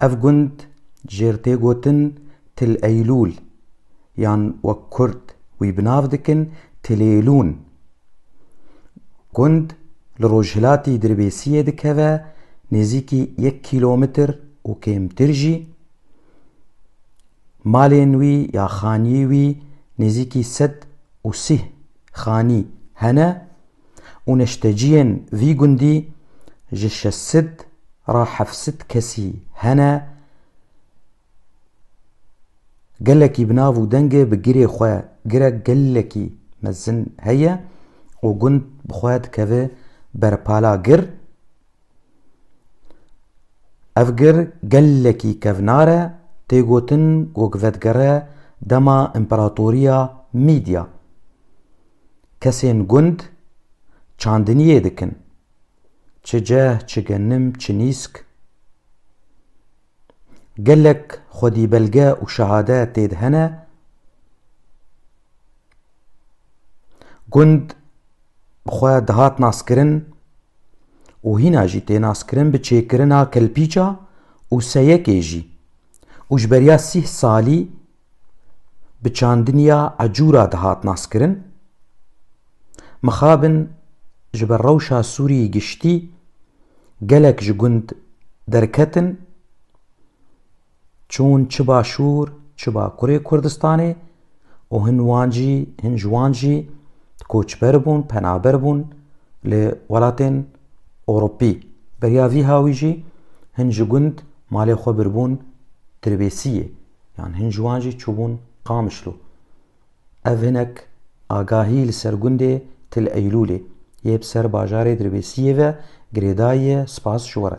Ev gund jêr tê gotin Til Eylûl yan wek kurd wî bi nav dikin Tilêlûn. Gund li rojhilatî Dirbêsiyê dikeve nêzîkî yek kîlometr û kêmtir jî. Malên wî ya xanî wî nêzîkî sed û sîh xanî hene. û neşteciyên vî gundî ji şeş sed ra heft sed kesî hene gelekî bi nav û dengê bi girê xwe girek gelekî mezin heye û gund bi xwe dikeve ber pala gir. Ev gir gelekî kevnar e, tê gotin ku gi vedigere dema împeratoriya Mîdya. Kesên gund çandiniyê dikin, çi ceh, çi genim, çi nîsk. Gelek xwedîbelge û şehade tê de hene. Gund bi xwe dihat naskirin û hîna jî tê naskirin bi çêkirina kelpîça û seyekê jî û ji beriya sîh salî bi çandiniya Ecûra dihat naskirin. Mixabin ji ber rewşa Sûriyê giştî gelek ji gund derketin çûn çi başûr çi bakurê Kurdistanê û hin wan jî hin ji wan jî koçber bûn penaber bûn li welatên Ewropî. Beriya vî hawî jî hin ji gund malê xwe birbûn Tirbêsiyê Yan hin ji wan jî çûbûn Qamişlo. Ev hinek agahî li ser gundê Til Eylûlê yê bi ser bajarê Dirbêsiyê ve girêdayiye spas ji we re.